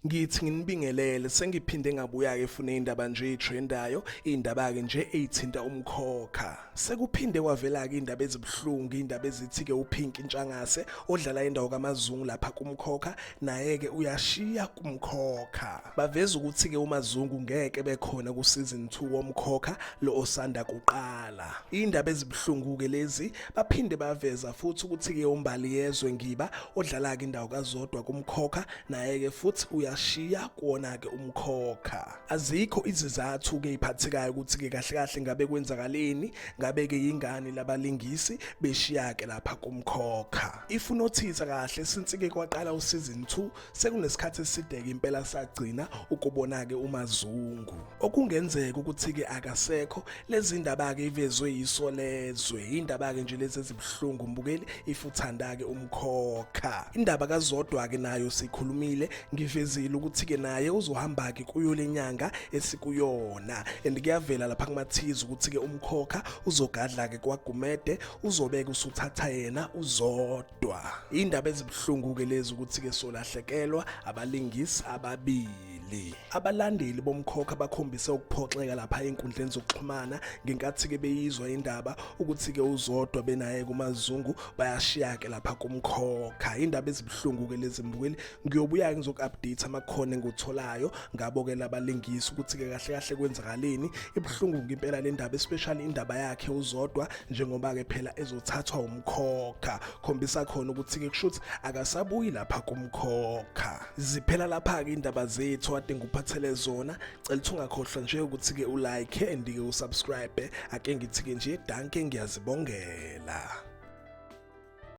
ngithi nginibingelele sengiphinde ngabuya-ke efuna iy'ndaba nje ey'threndayo iy'ndaba-ke nje ey'thinta umkhokha sekuphinde kwavela-ke iy'ndaba ezibuhlungu iy'ndaba ezithi-ke uphinki ntshangase odlala indawo kamazungu lapha kumkhokha naye-ke uyashiya kumkhokha Baveza ukuthi-ke uMazungu ngeke bekhona kusizini 2 womkhokha lo osanda kuqala. Iy'ndaba ezibuhlungu-ke lezi baphinde baveza futhi ukuthi-ke uMbali Yezwe Ngiba odlala-ke indawo kazodwa kumkhokha naye-ke futhi uyashiya kuwona-ke umkhokha. Azikho izizathu-ke iphathekayo ukuthi-ke kahle kahle ngabe kwenzakaleni ngabe-ke yingani labalingisi beshiya-ke lapha kumkhokha. If unothisa kahle since-ke kwaqala usizini 2 Sekunesikhathi eside-ke impela sagcina ukubona-ke uMazungu. Okungenzeka ukuthi-ke akasekho lezi ndaba-ke ivezwe yiso lezwe. Iy'ndaba-ke nje lezi ezibuhlungu mbukeli if uthanda-ke umkhokha. Indaba kazodwa-ke nayo sikhulumile ngivezile ukuthi-ke naye uzohamba-ke kuyo le nyanga esikuyona and kuyavela lapha kumathiza ukuthi-ke umkhokha uzogadla-ke kwagumede uzobeke usuthatha yena uzodwa kodwa indaba ezibuhlungu ke lezi ukuthi ke solahlekelwa abalingisi ababili abalandeli bomkhokha bakhombise ukuphoxeka lapha enkundleni zokuxhumana ngenkathi ke beyizwa indaba ukuthi ke uzodwa benaye kumazungu bayashiya ke lapha kumkhokha indaba ezibuhlungu ke lezi mbukeli ngiyobuya ngizoku-update amakhono engiwutholayo ngabo-ke labalingisi ukuthi-ke kahle kahle kwenzakaleni ibuhlungu ngimpela le ndaba especially indaba yakhe uzodwa njengoba-ke phela ezothathwa umkhokha khombisa khona ukuthi-ke kusho ukuthi akasabuyi lapha kumkhokha ziphela lapha-ke indaba zethu ade ngikuphathele zona cela ukuthi ungakhohlwa nje ukuthi-ke ulike and-ke usubscribe ake ngithi-ke nje danke ngiyazibongela